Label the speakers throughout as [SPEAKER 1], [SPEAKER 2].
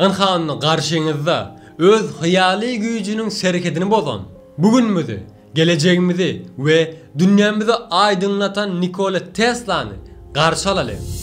[SPEAKER 1] Ynha onda garşyňyzda öz hyýaly güýjüniň serhedini bozan, bu günümizi, gelejegimizi we dünýämizi aýdyňlatan Nikola Teslany garşy alalyň.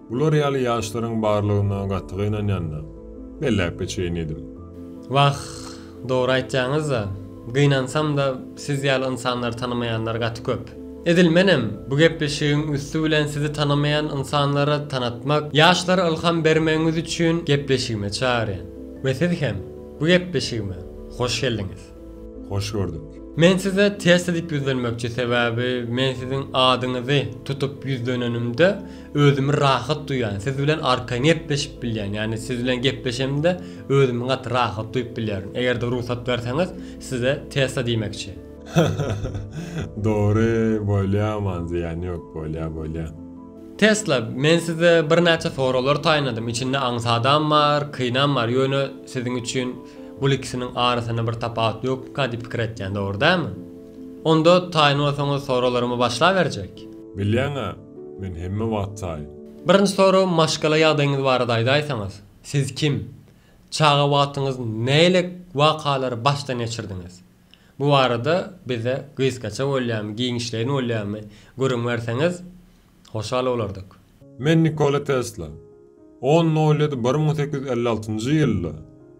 [SPEAKER 2] Bular ýaly ýaşlaryň barlygyna gaty gynanýan-da. Belläp geçeýin diýdim. Wah,
[SPEAKER 1] dogry aýtýaňyz-da. Gynansam-da, siz ýaly ynsanlary tanamaýanlar gaty köp. Edil menem bu gepleşigiň üsti bilen sizi tanamaýan ynsanlara tanatmak, ýaşlara ylham bermegiňiz üçin gepleşigime çagyrýan. We siz hem bu gepleşigime hoş geldiňiz. Hoş gördük.
[SPEAKER 2] Men size test
[SPEAKER 1] edip ýüzlenmekçi sebäbi men siziň adyňyzy tutup ýüzlenenimde özümi rahat duýýan siz bilen arkaýyn gepleşip bilýän ýagny siz bilen gepleşemde özümi gaty rahat duýup bilýärin egerde rugsat berseňiz size testa diýmekçi. Dogry
[SPEAKER 2] bolýa aman zyýany ýok bolýa bolýa. Tesla,
[SPEAKER 1] men size birnäçe soraglar taýynladym, içinde aňsadam bar, kynam bar, ýöne siziň üçin bul ikisiniň arasynda bir tapawut ýokmyka diýip pikir etýän, dogry dälmi? Onda taýyn bolsaňyz soraglarymy başlaberjek. Bilýäň-ä,
[SPEAKER 2] men hemme wagt taýyn. Birinji sorag
[SPEAKER 1] maşgala ýagdaýyňyz barada aýdaýsaňyz, siz kim? Çaga wagtyňyz nähili wakalary başdan geçirdiňiz? Bu barada bize gysgaça bolýamy, giňişleýin bolýamy gürrüň berseňiz, hoşal bolardyk. Men Nikola
[SPEAKER 2] Tesla. On noýlady bir müň sekiz ýüz elli altynjy ýylda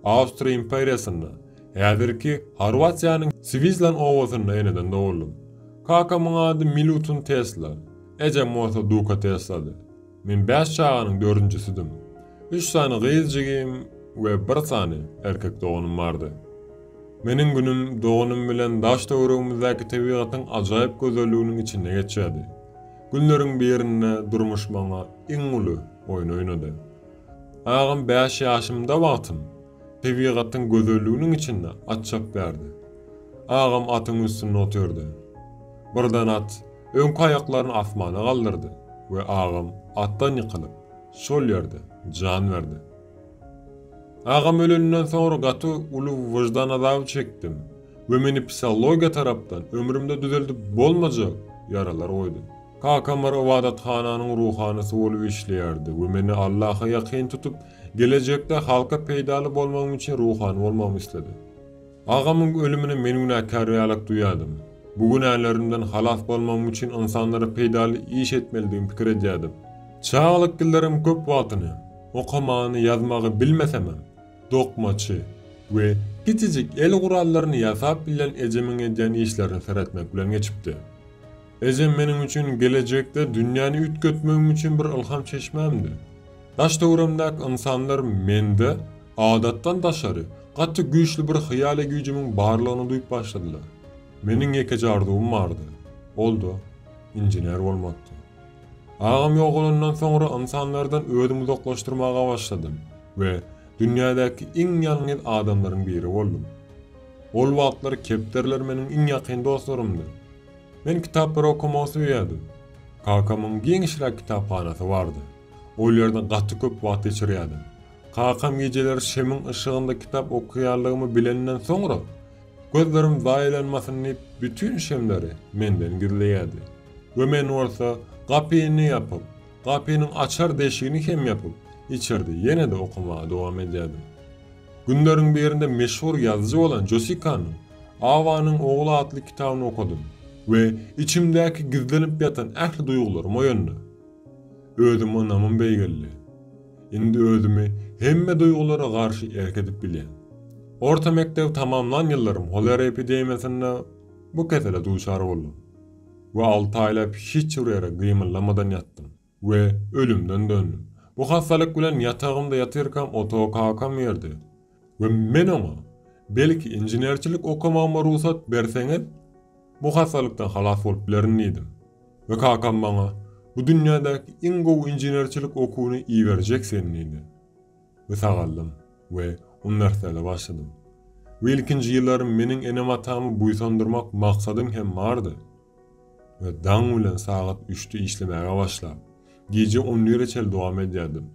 [SPEAKER 2] Awstriýa imperiýasynda, häzirki Horwatiýanyň Swizlan obasynda eneden doguldym. Kakamyň ady Milutun Tesla, ejem bolsa Duka Teslady. Men bäş çaganyň dördünjisidim. Üç sany gyz jigim we bir sany erkek doganym bardy. Meniň günüm doganym bilen daş-töweregimizdäki tebigatyň ajaýyp gözelliginiň içinde geçýärdi. Günleriň birinde durmuş maňa iň uly oýny oýnady. Agam bäş ýaşymda wagtym Tebigatyň gözelliginiň içinde at çap berdi. Agam atyň üstünde otyrdy. Birden at öňki aýaklaryny asmana galdyrdy we agam atdan ýykylyp, şol ýerde jan berdi. Agam öleninden soňra gaty uly wyždan azaby çekdim we meni psihologiýa tarapdan ömrümde düzeldip bolmajak ýaralar goýdy. Kakam bir ybadathananyň ruhanysy bolup işleýärdi we meni Allaha ýakyn tutup, Gelejekde halka peýdaly bolmagym üçin ruhany bolmagymy isledi. Agamyň ölümine men günäkär ýalak duýýardym. Bu günälerimden halas bolmagym üçin ynsanlara peýdaly iş etmelidigimi pikir edýärdim. Çagalyk ýyllaryň köp wagtyny, okamagyny, ýazmagy bilmesemem, dokmaçy we kiçijik el gurallaryny ýasap bilen ejemiň edýän işlerine seretmek bilen geçipdi. Ejem meniň üçin gelejekde dünýäni üýtgetmegim üçin bir ylham çeşmämdi. Daş-töwerimdäki ynsanlar mende, adatdan daşary, gaty güýçli bir hyýaly güýjümiň barlygyny duýup başladylar. Meniň ýekeje arzuwym bardy. Ol-da, inžener bolmakdy. Agam ýogalandan soňra ynsanlardan özümi uzaklaşdyrmaga başladym we dünýädäki iň ýalňyz adamlaryň biri boldum. Ol wagtlar kepderiler meniň iň ýakyn dostlarymdy. Men kitaplary okamagy söýýärdim. Kakamyň giňişräk kitaphanasy bardy. Ol ýerde gaty köp wagt geçirýärdim. Kakam gijeleri şemiň yşygynda kitap okaýanlygymy bilenden soňra, gözlerim zaýalanmasyn diýip, bütin şemleri menden gizleýärdi we men bolsa gapyny ýapyp, gapynyň açar deşigini hem ýapyp, içerde ýene-de okamaga dowam edýärdim. Günleriň birinde meşhur ýazyjy bolan Josikanyň Awanyň ogly atly kitabyny okadym we içimdäki gizlenip ýatan ähli duýgularym oýandy. Özüme ynamym beýgeldi. Indi özümi hemme duýgulara garşy erk edip bilýän. Orta mekdebi tamamlan ýyllarym holera epidemiýasynda bu kesele duçar boldum we alty aýlap hiç bir ýere gymyldamadan ýatdym. We ölümden döndüm. Bu hassalyk bilen ýatagymda ýatyrkam otagy kakam berdi. We men oňa, Belki inženerçilik okamagyma rugsat berseňiz, bu hassalykdan halas bolup bilerin diýdim. We kakam maňa, Bu dünýädäki iň gowy inženerçilik okuwyny iberjek sen diýdi. We sagaldym. We uniwersiada başladym. We ilkinji ýyllarym meniň enem-atamy buýsandyrmak maksadym hem bardy. we daň bilen sagat üçde işlemäge başlap, gije on bire çenli dowam edýärdim.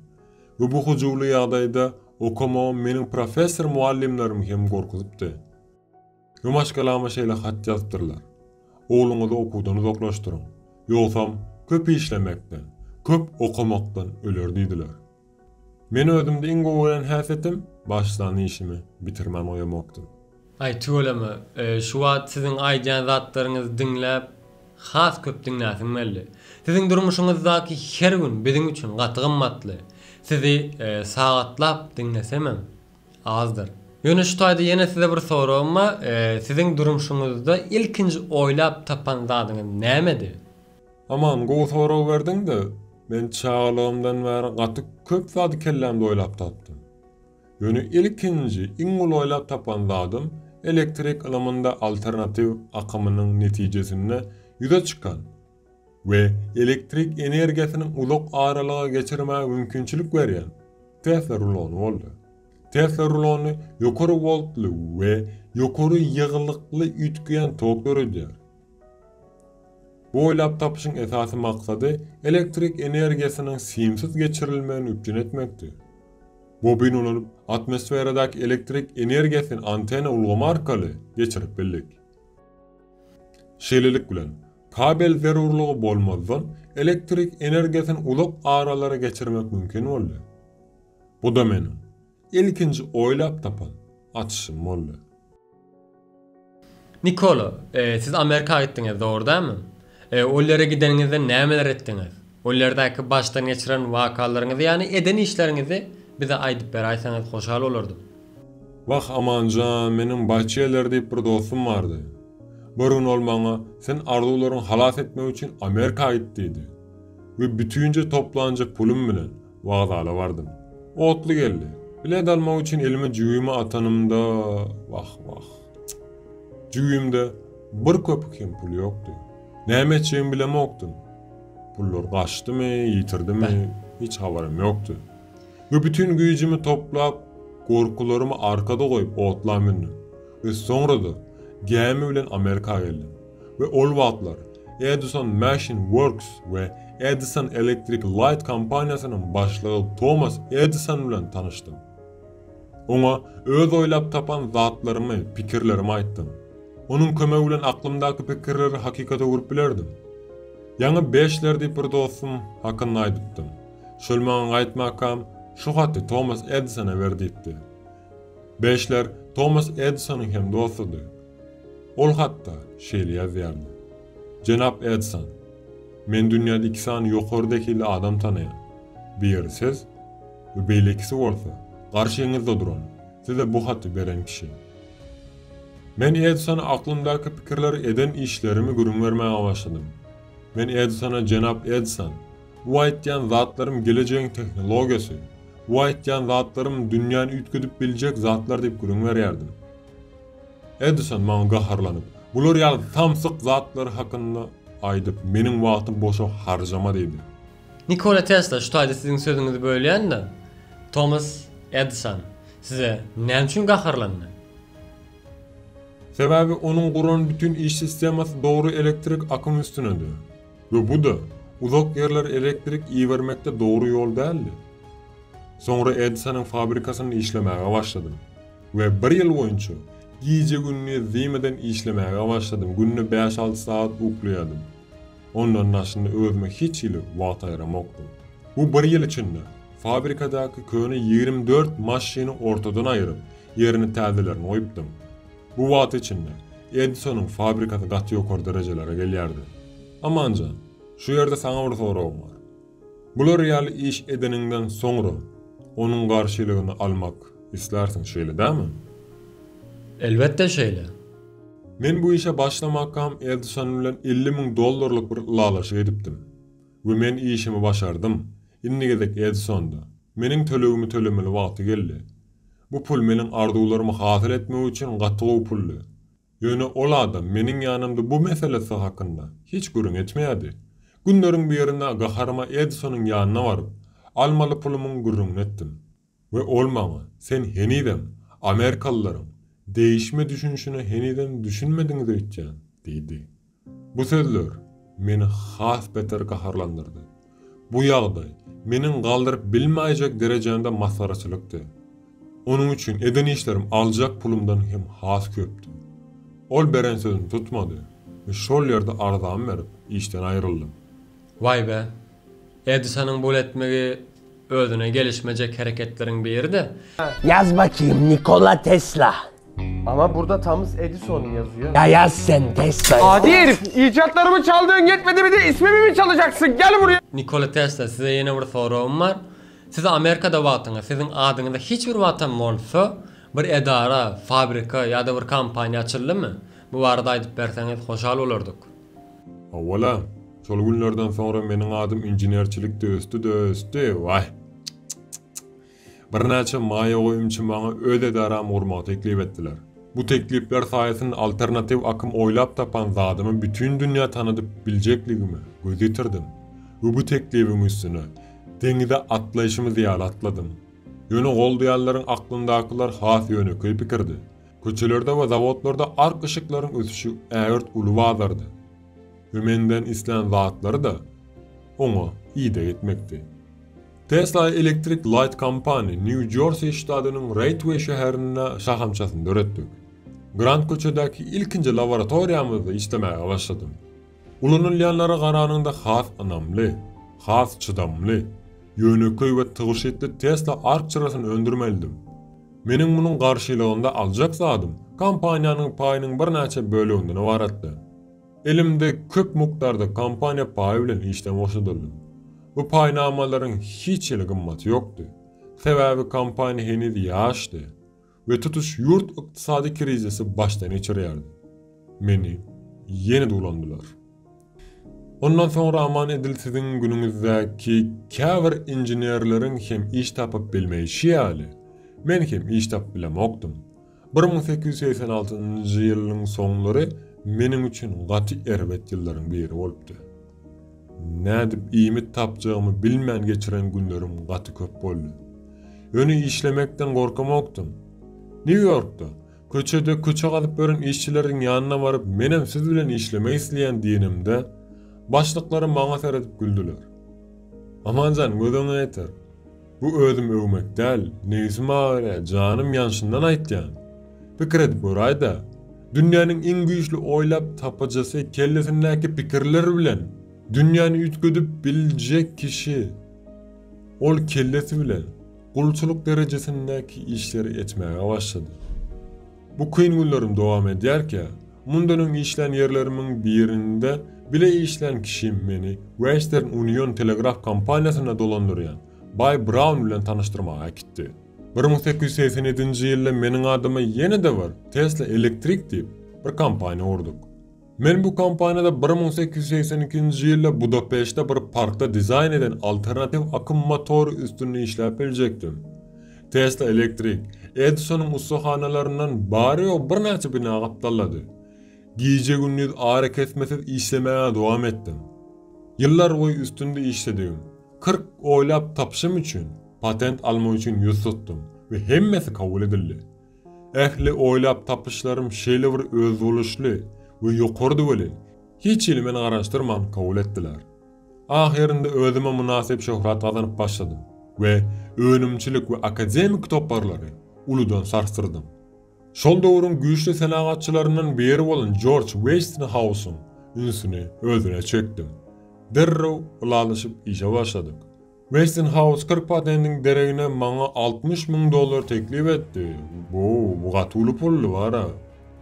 [SPEAKER 2] We bu hyjuwly ýagdaýda okamagym meniň professor mugallymlarym hem gorkuzypdy. We maşgalama şeýle hat ýazypdyrlar, Ogluňyzy okuwdan uzaklaşdyryň, ýogsam köp işlemekden, köp okamakdan öler diýdiler. Men özümde iň gowy gören häsiýetim, başlan işimi bitirmän goýamakdym. Aý tüweleme,
[SPEAKER 1] şu wagt siziň aýdýan zatlaryňyzy diňläp, has köp diňläsiň geldi. Siziň durmuşyňyzdaky her gün biziň üçin gaty gymmatly. Sizi sagatlap diňlesemem azdyr. Ýöne şu taýda ýene size bir soragym bar, siziň durmuşyňyzda ilkinji oýlap tapan zadyňyz nämedi? Aman
[SPEAKER 2] gowy sorag berdiňde, men çagalygymdan bäri gaty köp zady kellämde oýlap tapdym. Ýöne ilkinji, iň uly oýlap tapan zadym elektrik ylymynda alternatiw akymynyň netijesinde ýüze çykan we elektrik energiýasyny uzak aralyga geçirmäge mümkinçilik berýän Tesla rulony boldy. Tesla rulony ýokary woltly we ýokary ýygylykly üýtgeýän tok döredýär. Bu oýlap tapyşyň esasy maksady elektrik energiýasynyň simsiz geçirilmegini üpjün etmekdi. Bobin ulanyp, atmosferadaky elektrik energiýasyny antena ulgamy arkaly geçirip bildik. Şeýlelik bilen, kabel zerurlygy bolmazdan elektrik energiýasyny uzak aralara geçirmek mümkin boldy. Bu-da meniň. Ilkinji oýlap tapan açyşym boldy.
[SPEAKER 1] Nikola, siz Amerika gitdiňiz, dogry dälmi? Ol ýere gideniňizde nämeler etdiňiz? Ol ýerdäki başdan geçiren wakalaryňyzy, ýagny eden işleriňizi bize aýdyp beräýseňiz hoşal bolardym. Wah,
[SPEAKER 2] Aman jan, meniň Baýçeler diýip bir dostum bardy. Bir gün ol maňa, Sen arzuwlaryňy halas etmek üçin Amerika git diýdi. We bütinje toplanja pulum bilen, Wokzala bardym. Otly geldi. Bilet almak üçin elime jübimi atanymda, wah, wah. Jübimde bir köpük hem pul ýokdy. Näme etjegimi bilemokdym. Pullar gaçdymy, ýitirdimi, hiç habarym ýokdy. We bütin güýjümi toplap, gorkularymy arkada goýup otla mündüm. We soňra-da gämi bilen Amerika geldim. we ol wagtlar Edison Machine Works we Edison Electric Light kompaniýasynyň başlygy Tomas Edison bilen tanyşdym. Oňa öz oýlap tapan zatlarymy, pikirlerimi aýtdym. Onuň kömegi bilen aklymdaky pikirleri hakykata öwrüp bilerdim. Ýaňy Beşler diýip bir dostum hakynda aýdypdym. Şol maňa gaýtmakam, Şu haty Tomas Edisona ber diýipdi. Beşler Tomas Edisonyň hem dostudy. Ol hatda şeýle ýazýardy, Jenap Edison, men dünýäde iki sany ýokary zehili adam tanaýan. Biri siz we beýlekisi bolsa garşyňyzda duran, size bu haty beren kişi. Men Edisona aklymdaky pikirleri, eden işlerimi gürrüň bermäge başladym. Men Edisona Jenap Edison, Bu aýtýan zatlarym gelejegiň tehnologiýasy, bu aýtýan zatlarym dünýäni üýtgedip biljek zatlar diýip gürrüň berýärdim. Edison maňa gaharlanyp, Bular ýaly samsyk zatlar hakynda aýdyp, meniň wagtymy boşa harjama diýdi. Nikola Tesla,
[SPEAKER 1] şu taýda siziň sözüňizi bölýän-de, Tomas Edison size näme üçin gaharlandy?
[SPEAKER 2] Sebäbi onuň guran bütin iş sistemasy dogry elektrik akymy üstünedi. We bu-da, uzak ýerlere elektrik ibermekde dogry ýol däldi. Soňra Edisonyň fabrikasynda işlemäge başladym. We bir ýyl boýunça, gije-gündiz diýmeden işlemäge başladym, günde bäş-alty sagat uklaýardym. Ondan daşynda özüme hiç hili wagt aýramokdym. Bu bir ýyl içinde, fabrikadaky köne ýigrimi dört maşyny ortadan aýryp, ýerine täzelerini goýupdym. Bu wagt içinde Edisonyň fabrikasy gaty ýokary derejelere gelýärdi. Amanjan, şu ýerde saňa bir soragym bar. Bular ýaly iş edeniňden soňra, onuň garşylygyny almak islärsiň, şeýle dälmi?
[SPEAKER 1] Elbetde şeýle. Men
[SPEAKER 2] bu işe başlamakam Edison bilen elli müň dollarlyk bir ylalaşyk edipdim. We men işimi başardym. Indi gezek Edisonda. Meniň tölegimi tölemeli wagty geldi. Bu pul meniň arzuwlarymy hasyl etmek üçin gaty gowy puldy. Ýöne ol adam meniň ýanymda bu meselesi hakynda hiç gürrüň etmeýärdi. Günleriň birinde gaharyma Edisonyň ýanyna baryp, almaly pulumyň gürrüňini etdim we ol maňa, Sen henizem amerikalylaryň degişme düşünişine henizem düşünmediňiz öýtýän, diýdi. Bu sözler meni has beter gaharlandyrdy. Bu ýagdaý meniň galdyryp bilmäýjek derejämde masgaraçylykdy. Onuň üçin eden işlerim aljak pulumdan hem has köpdi. Ol beren sözüni tutmady we şol ýerde arzamy berip, işden aýryldym. Waý-be,
[SPEAKER 1] Edisonyň bul etmegi Özüne gelişmejek hereketleriň biri-de. Yaz bakýym
[SPEAKER 3] Nikola Tesla. Ama burda
[SPEAKER 4] Tamus Edison yazıyor. Ya yaz sen
[SPEAKER 3] Tesla. Adi herif,
[SPEAKER 4] icatlarymı çaldığın yetmedi bir de ismimi mi çalacaksın? Gel buraya. Nikola Tesla size
[SPEAKER 1] yene bir soragym bar. Siz Amerikada wagtyňyz siziň adyňyza hiç bir wagtam bolsa bir edara, fabrika ýa-da bir kompaniýa açyldymy? Bu barada aýdyp berseňiz hoşal bolardyk. Hawa-la,
[SPEAKER 2] şol günlerden soňra meniň adym inženerçilikde ösdi-de ösdi, waý! Çyk-çyk-çyk-çyk! Birnäçe maýa goýumçy maňa öz edaramy gurmagy teklip etdiler. Bu teklipler saýasynda alternatiw akym oýlap tapan zadymy bütin dünýä tanadyp biljekligime göz ýetirdim we bu teklibiň üstüne deňize atlaýşymyz ýaly atladym. Ýöne goldaýanlaryň aklyndakylar has ýönekeý pikirdi. Köçelerde we zawodlarda ark yşyklaryň ösüşi ägirt uly bazardy. Hümenden islän zatlary-da oňa ideg etmekdi. Tesla Electric Light Company Nýu-Jorsi ştadynyň Reýtweý şäherinde şahamçasyny döretdik. Grant köçedäki ilkinji laboratoriýamyzda işlemäge başladym. Ulanylýanlara garanyňda has ynamly, has çydamly, ýönekeý we tygşytly Tesla ark çyrasyny öndürmelidim. Meniň munuň garşylygynda aljak zadym kompaniýanyň paýynyň birnäçe böleginden ybaratdy. Elimde köp mukdarda kompaniýa paýy bilen işden boşadyldym. Bu paýnamalaryň hiç hili gymmaty ýokdy. Sebäbi kompaniýa heniz ýaşdy we tutuş ýurt ykdysady krizisi başdan geçirýärdi. Meni ýene duwlandylar. Ondan soňra aman edil siziň günüňizdäki käbir inženerleriň hem iş tapyp bilmeýşi ýaly, men hem iş tapyp bilemokdym. Bir müň sekiz ýüz segsen altynjy ýylyň soňlary meniň üçin gaty erbet ýyllaryň biri bolupdy. Nädip iýmit tapjagymy bilmän geçiren günlerim gaty köp boldy. Ýöne işlemekden gorkamokdym. Nýu-Ýorkda, Köçede köçe gazyp ýören işçileriň ýanyna baryp menem siz bilen işlemek isleýän diýenimde, başlyklarym maňa seredip güldüler. Amanjan gözeňe ýeter. Bu özüm öwmek däl, nebisim agyrýa, janym ýanşyndan aýtýan. Pikir edip göräýdä. Dünýäniň iň güýçli oýlap tapyjysy kellesindäki pikirler bilen dünýäni üýtgedip biljek kişi. Ol kellesi bilen. Gulçulyk derejesindäki işleri etmäge başlady. Bu kyn günlerim dowam edýärkä, mundan öň işlän ýerlerimiň birinde bile işlän kişim meni Western Union telegraf kompaniýasynda dolandyrýan baý Braun bilen tanyşdyrmaga äkitdi. Bir müň sekiz ýüz segsen ýedinji ýylda meniň adyma ýene-de bir Tesla Electric diýip, bir kompaniýa gurduk. Men bu kompaniýada bir müň sekiz ýüz segsen ikinji ýylda Budapeştde bir parkda dizaýn eden alternatiw akym motory üstünde işläp biljekdim. Tesla Electric Edisonyň ussahanalaryndan bary-ýogy birnäçe bina gapdallady. Gije-gündiz arakesmesiz işlemäge dowam etdim. Ýyllarboýy üstünde işledigim, kyrk oýlap tapyşym üçin, patent almak üçin ýüz tutdum we hemmesi kabul edildi. Ähli oýlap tapyşlarym şeýle bir özboluşly we ýokarydy welin, hiç hili meni garaşdyrman kabul etdiler. Ahyrynda özüme mynasyp şöhrat gazanyp başladym we önümçilik we akademiki toparlary uludan sarsdyrdym. Şol döwrüň güýçli senagatçylaryndan biri bolan Jorj Weýstinhausyň ünsüni özüne çekdim. Derrew ylalaşyp işe başladyk. Westinghouse kyrk patendiň deregine maňa altmyş müň dollar teklip etdi. Wow, bu gaty uly puldy, wara.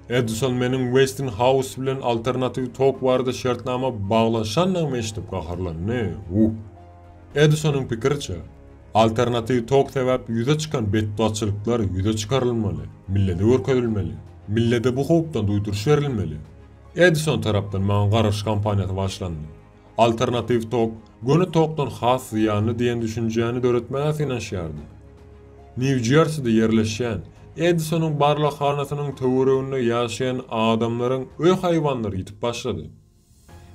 [SPEAKER 2] Edison meniň Westinghouse bilen alternatiw tok barada şertnama baglaşandygymy eşidip gaharlandy. Uh! Edisonyň pikiriçe, alternatiw tok sebäpli ýüze çykan betbagtçylyklar ýüze çykarylmaly, millete görkezilmeli, millete bu howpdan duýduryş berilmeli. Edison tarapdan maňa garaş kampaniýasy başlandy. Alternatiw tok, göni tokdan has zyýanly diýen düşünjäni döretmäge synanyşýardy. Nýu-Jerside ýerleşýän Edisonyň barlaghanasynyň töwereginde ýaşaýan adamlaryň öý haýwanlary ýitip başlady.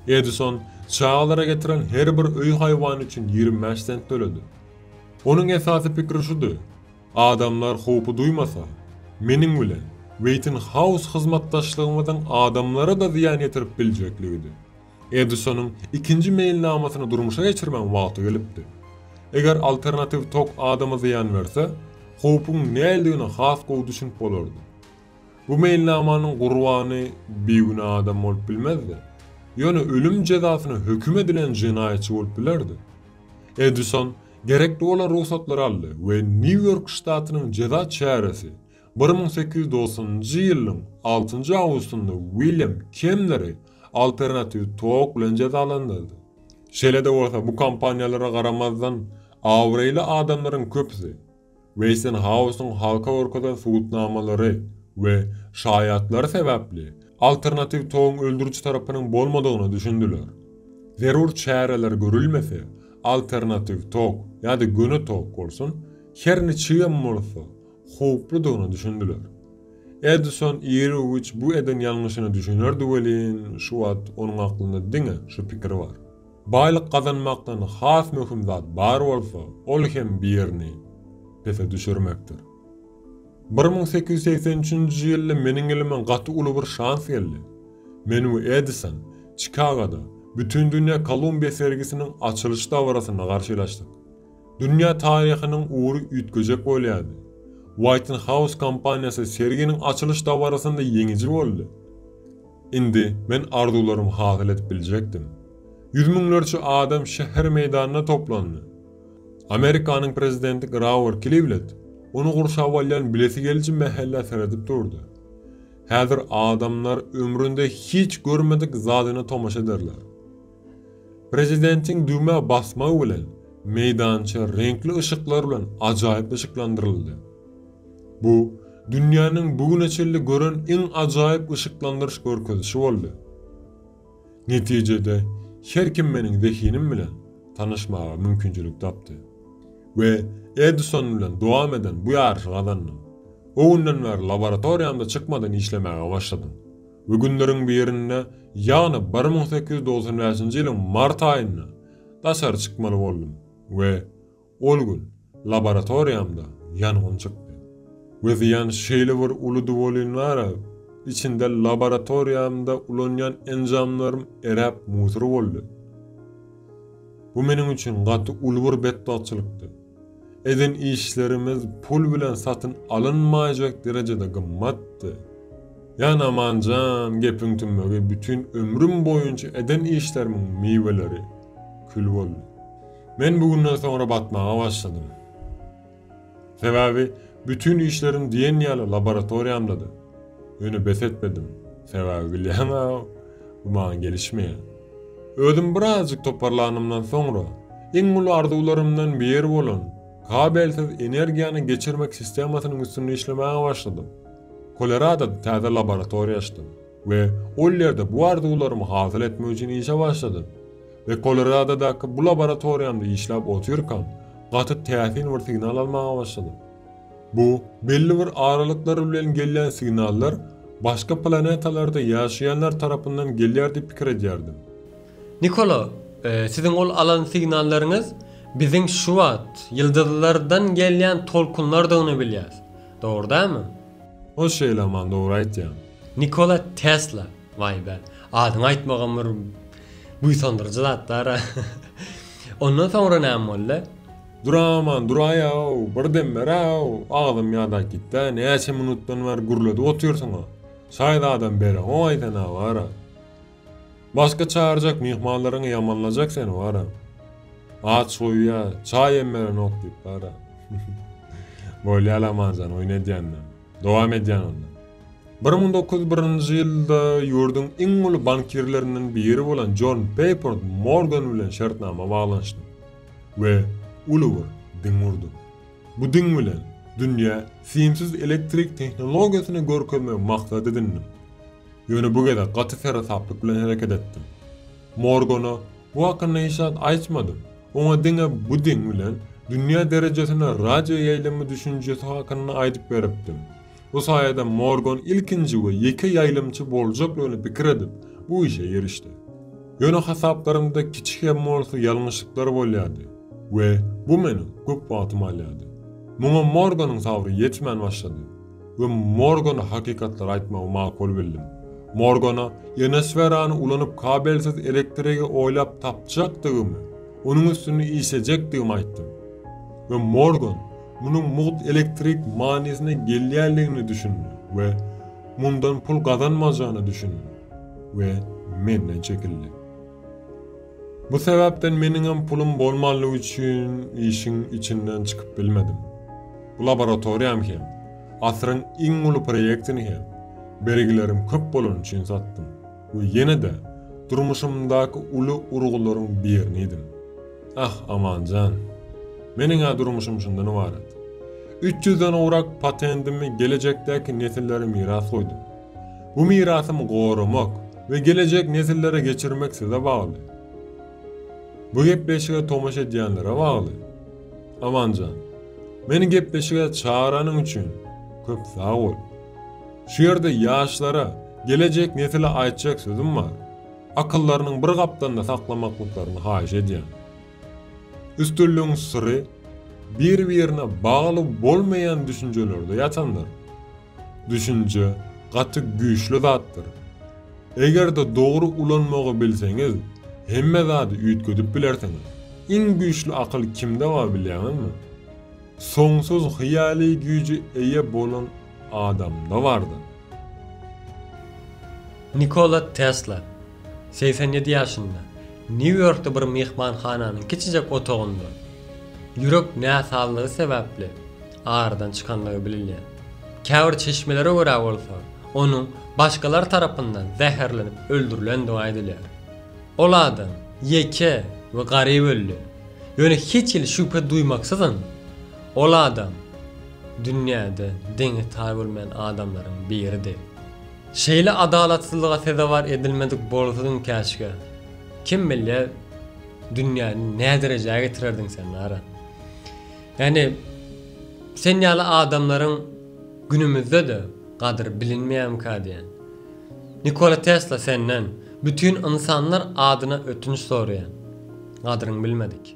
[SPEAKER 2] Edison çagalara getiren her bir öý haýwany üçin ýigrimi bäş sent töledi. Onuň esasy pikiri şudy, Adamlar howpy duýmasa, meniň bilen Weýtinhaus hyzmatdaşlygymyzyň adamlara-da zyýan ýetirip biljekligidi. Edisonyň ikinji meýilnamasyny durmuşa geçirmegiň wagty gelipdi. Eger alternatiw tok adama zyýan berse, howpuň näildigine has gowy düşünip bolardy. Bu meýilnamanyň gurbany bigünä adam bolup bilmezdi. Ýöne ölüm jezasyna höküm edilen jenaýatçy bolup bilerdi. Edison gerekli bolan rugsatlary aldy we Nýu-Ýork ştatynyň jeza çäresi Bir müň sekiz ýüz doksanynjy ýylyň altynjy awgustynda Wilýam Kemneri alternatiw tok bilen jezalandyrdy. Şeýle-de bolsa, bu kampaniýalara garamazdan, abraýly adamlaryň köpüsi Weýsenhausyň halka görkezen subutnamalary we şaýatlary sebäpli alternatiw togyň öldüriji tarapynyň bolmadygyna düşündiler. Zerur çäreler görülmese, alternatiw tok ýa-da göni tok bolsun, her niçigem bolsa, howpludygyna düşündiler. Edison iri güç bu eden ýalňyşyna düşünerdi welin, şu wagt onuň aklynda diňe şu pikir bar. Baýlyk gazanmakdan has möhüm zat bar bolsa, ol hem birini pese düşürmekdir. Bir müň sekiz ýüz segsen üçünji ýylda meniň elime gaty uly bir şans geldi. Men we Edison Çikagoda Bütindünýä Kolumbiýa sergisiniň açylyş dabarasynda garşylaşdyk. Dünýä taryhynyň ugry üýtgejek bolýardy. White House kompaniýasy serginiň açylyş dabarasynda ýeňiji boldy. Indi men arzuwlarymy hasyl edip biljekdim. Ýüz müňlerçe adam şäher meýdanynda toplandy. Amerikanyň prezidenti Grawer Klivlet ony gurşap alýan bilesi geliji mähellä seredip durdy. Häzir adamlar ömründe hiç görmedik zadyna tomaşa ederler. Prezidentiň düwmä basmagy bilen meýdança reňkli yşyklar bilen ajaýyp yşyklandyryldy. Bu dünýäniň bu güne çenli gören iň ajaýyp yşyklandyryş görkezişi boldy. Netijede her kim meniň zehinim bilen tanyşmaga mümkinçilik tapdy we Edison bilen dowam eden bu ýaryşy gazandym. O günden bäri laboratoriýamda çykmadan işlemäge başladym. We günleriň birinde, ýagny bir müň sekiz ýüz dogsan bäşinji ýylyň mart aýynda daşary çykmaly boldum we ol gün laboratoriýamda ýangyn çykdy. We zyýan şeýle bir uludy welin wara, içinde laboratoriýamda ulanýan enjamlarym eräp musur boldy. Bu meniň üçin gaty uly bir betbagtçylykdy. Eden işlerimiz pul bilen satyn alynmaýjak derejede gymmatdy. Jan Amanjan gepiň tümmegi bütin ömrüm boýunça eden işlerimiň miweleri kül boldy. Men bu günden soňra batmaga başladym. Sebäbi bütin işlerim diýen ýaly laboratoriýamdady. Ýöne bes etmedim. Sebäbi bilýäňä-ow. Bu maňa gelişmeýär. Özüm birazjyk toparlanymdan soňra, iň uly arzuwlarymdan biri bolan kabelsiz energiýany geçirmek sistemasynyň üstünde işlemäge başladym. Koloradoda täze laboratoriýa açdym we ol ýerde bu arzuwlarymy hasyl etmek üçin işe başladym. We Koloradodaky bu laboratoriýamda işläp otyrkam, gaty täsin bir signal almaga başladym. Bu belli bir aralyklar bilen gelýän signallar başga planetalarda ýaşaýanlar tarapyndan gelýär diýip pikir edýärdim. Nikola,
[SPEAKER 1] siziň ol alan signallaryňyz biziň şu wagt ýyldyzlardan gelýän tolkunlardygyny bilýäs. Dogry dälmi? Ol şeýle
[SPEAKER 2] aman dogry aýtýaň. Nikola
[SPEAKER 1] Tesla, waý be, adyňy aýtmagam bir buýsandyryjy zat dara. Ondan soňra näme boldy? Duraman
[SPEAKER 2] duraýaw, bir dem beräw, agzym ýadap gitdä, näçe minutdan bäri gürledip otyrsyň-a? Şaýzadam bere oň aýdan-a bar-a. Başga çagyrjak myhmanlaryňy ýamanlajak seni bar-a. Aç goýýa, çaý hem berenok diýip bar-a. Bolýa Laman jan, oýun edýän-de. Dowam edýän onda. Bir müň dokuz ýüz birinji ýylda ýurduň iň uly bankirlerinden biri bolan Jon Peýport Morgan bilen şertnama baglanyşdym. We uly bir diň gurdup. Bu diň bilen dünýä simsiz elektrik tehnologiýasyny görkezmegi maksat edindim. Ýöne bu gezek gaty seresaplyk bilen hereket etdim. Morgana bu hakynda hiç zat aýtmadym, oňa diňe bu diň bilen dünýä derejesinde radio ýaýlymy düşünjesi hakynda aýdyp beripdim. Bu saýada Morgan ilkinji we ýeke ýaýlymçy boljaklygyny pikir edip, bu işe girişdi. Ýöne hasaplarymda kiçi hem bolsa ýalňyşlyklar bolýardy we bu meniň köp wagtymy alýardy. Muňa Morganyň sabry ýetmän başlady we Morgana hakykatlary aýtmagy makul bildim. Morgana ionosferany ulanyp kabelsiz elektrigi oýlap tapjakdygymy, onuň üstünde işlejekdigimi aýtdym. We Morgan munuň mugt elektrik manysyna gelýändigine düşündi we mundan pul gazanmajagyna düşündi we menden çekildi. Bu sebäpden meniňem pulum bolmanlygy üçin işiň içinden çykyp bilmedim. Bu laboratoriýam hem, asyryň iň uly proýektini hem bergilerim köp bolany üçin satdym. we ýene-de durmuşymdaky uly urgularyň birinidim. Ah, Aman jan! Meniň-ä durmuşym şundan ybarat. Üç ýüzden gowrak patendimi gelejekdäki nesillere miras goýdum. Bu mirasymy goramak we gelejek nesillere geçirmek size bagly. Bu gepleşige tomaşa edýänlere bagly. Aman jan, meni gepleşige çagyranyň üçin köp sag bol! Şu ýerde ýaşlara, gelejek nesile aýtjak sözüm bar. Akyllarynyň bir gapdalynda saklamaklyklaryny haýyş edýän. Üstünligiň syry bir-birine bagly bolmaýan düşünjelerde ýatandyr. Düşünje gaty güýçli zatdyr. Eger-de dogry ulanmagy bilseňiz, hemme zady üýtgedip bilersiňiz. Iň güýçli akyl kimde bar bilýäňizmi? Soňsuz hyýaly güýje eýe bolan adamda bardy.
[SPEAKER 1] Nikola Tesla, segsen ýedi ýaşynda, Nýu-Ýorkda bir myhmanhananyň kiçijek otagynda ýürek näsazlygy sebäpli aradan çykandygy bilinýär. Käbir çeşmelere görä bolsa, onuň başgalar tarapyndan zäherlenip öldürilendigi aýdylýar. Ol adam ýeke we garyp öldi. Ýöne hiç hili şübhe duýmaksyzyn, ol adam dünýäde deňi-taýy bolmaýan adamlaryň biridi. Şeýle adalatsyzlyga sezewar edilmedik bolsadyň käşgä, kim bilýär, dünýäni näderejä getirerdiň sen, Lara? Ýagny, sen ýaly adamlaryň günümizde-de gadyry bilinmeýärmikä diýýän. Nikola Tesla senden, bütin ynsanlar adyna ötünç soraýan. Gadyryňy bilmedik.